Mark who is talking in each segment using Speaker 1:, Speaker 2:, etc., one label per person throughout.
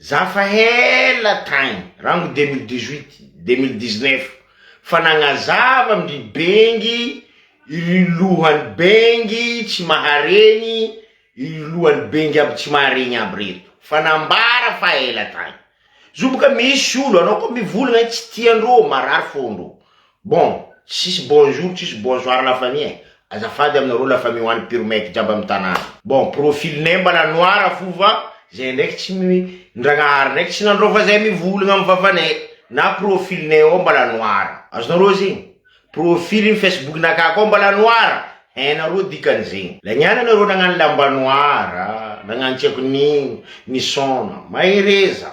Speaker 1: Za fa hela tagny, rango deux mille dix huit, deux mille dix neuf, fa nagnazava amindry bengy ry lohany bengy tsy maharegny ry lohany bengy aby tsy maharegny aby reto fa nambara fa ela tagny zo boka misy olo anao ko mivolagna tsy tiandro marary fondro Bon, tsisy bonjour tsisy bonsoir la famille eh! Azafady aminareo la famille ho any pure mec jiaby amin'ny tanàna. Bon, profil ney mbala noir fo fa zay ndraiky tsy mi, ny Ndragnahary ndraiky tsy nandrao fa zay mivolagna amin'ny vavaney na profil ney ao mbala noir. Azonareo zegny? Profil ny facebook nakah koa mbala noir, hainareo dikan'izegny. Lagnana nareo nagnano lamba noir, nagnano tsy haiko nino, nisaona. Mahereza.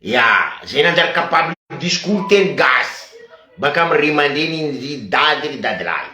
Speaker 1: Ya, zay nanjary capable discours teny gasy baka am ry mandreny iny ry dady ry dadilahy.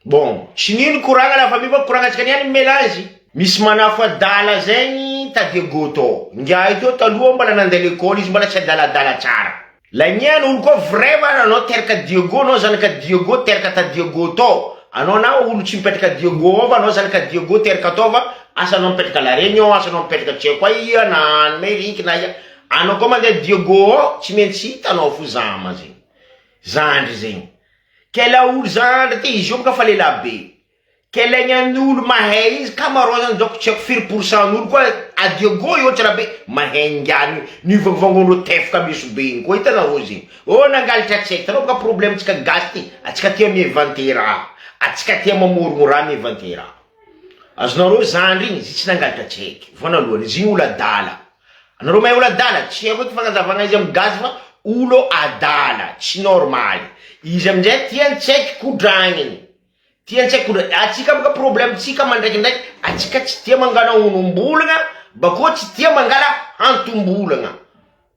Speaker 1: Bon, tsy nino koragna la famille fa koragnantsika niany mamela azy. Misy manafo adala zay ny tadego tô, ingahy tô taloha mbala nande lekôly izy mbala tsy adaladala tsara. Lanian olo koa vrai va anao teraka Diego anao zanaka Diego teraka tadiego tô. Anao na olo tsy mipetraka Diego ao fa anao zany ka Diego tery kataova asa anao mipetraka la regne ao asa anao mipetraka tsy haiko aiya na any me rink na aiya anao ko mandeha Diego ao tsy mentsy hita anao fo zama zegny zandry zegny kela olo zandry ty izy io baka fa lelahy be kelaigny any olo mahay izy ka marao zany donc tsy haiko firy pour cent an'olo koa a Diego eo tsra be mahay ngy any mivangovango anao tefoka meso be igny koa hitanareo zegny. Oh nangalatra tsy hay tanao ka problème tsika gasy ty atsika tia mivante raha atsika tia mamorogno raha mivante raha azonareo zandry igny izy tsy nangalatra tsy haiky voanalohany izy igny olo adala anareo mahay olo adala tsy haiko eky fagnazavagna izy amy gasy fa olo adala tsy normaly izy amizay tiany tsy haiky kodragniny tiany tsy haiky kodragniny atsika boka problème tsika mandraikindraiky atsika tsy tia mangala onombolagna bakeo tsy tia mangala hantombolagna.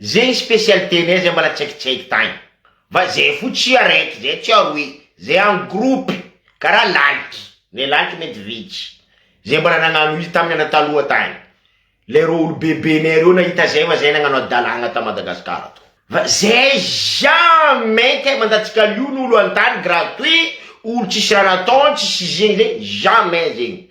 Speaker 1: Zegny specialité nay zay mbala tsaikitsaiky tagny fa zay fo tsy araiky zay tsy aroy zay en groupe karaha lalitry le lalitry mety vitsy zay mbala nagnano izy taminy andro taloha tagny le reo olo bebe nay reo nahita zay fa zay nagnano adalagna ta Madagascar ato fa zay jamais kay mandatsika lio ny olo antany gratuit olo tsisy raha nataony tsisy zegny zegny jamais zegny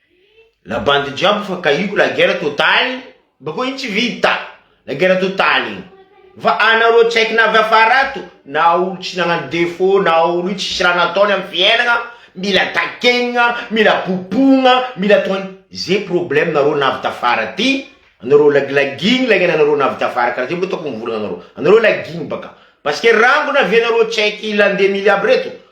Speaker 1: La bande jiaby fa kahiko la guerre totale bakeo iny tsy vita la guerre totale iny fa anareo tsy haiko na avy afara ato na olo tsy nagnano defaut na olo io tsisy raha nataony am fiainagna mila takenigna mila bobogna mila atao an ze problème nareo na avy tafara aty anareo lagilagigny la iana anareo na avy tafara kara ze mbo hitako mivolagna anareo anareo lagigny baka parce que rangony avy anareo tsy haiko i la ndemily aby reto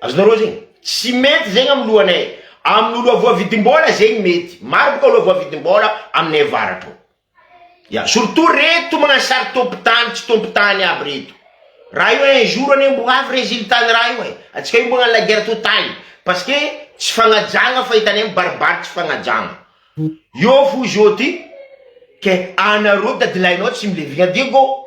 Speaker 1: Azonareo zegny? Tsy mety zegny amin'ny lohanay, amin'ny loha voavidim-bola zegny mety, maro boka loha voavidim-bola aminay avaratra ao, ya, surtout reto magnano sary tompon-tany tsy tompon-tany aby reto, raha io un jour anie mbo ho avy résultat ny raha io e, antsika io mbo hagnano la guerre totale, parce que tsy fagnajagna fa hitanay mibaribary tsy fagnajagna, eo fo izy eo ty, ke anareo dadilahinao tsy milevigna diego.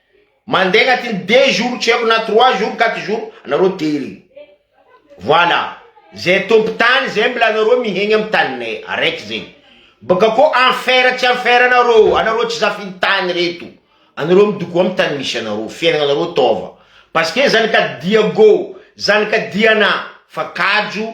Speaker 1: Mandeha agnatin'ny deux jours tsy haiko na trois jours quatre jours anareo tery. Voilà, zay tompo tany zay mila anareo mihegny am taninay, araiky zegny. Baka koa enfer tsy enfer anareo, anareo tsy zafin'ny tany reto. Anareo midoko am tany misy anareo, fiainagna anareo taova. Parce que zanaka Diago, zanaka Diana fa kajo.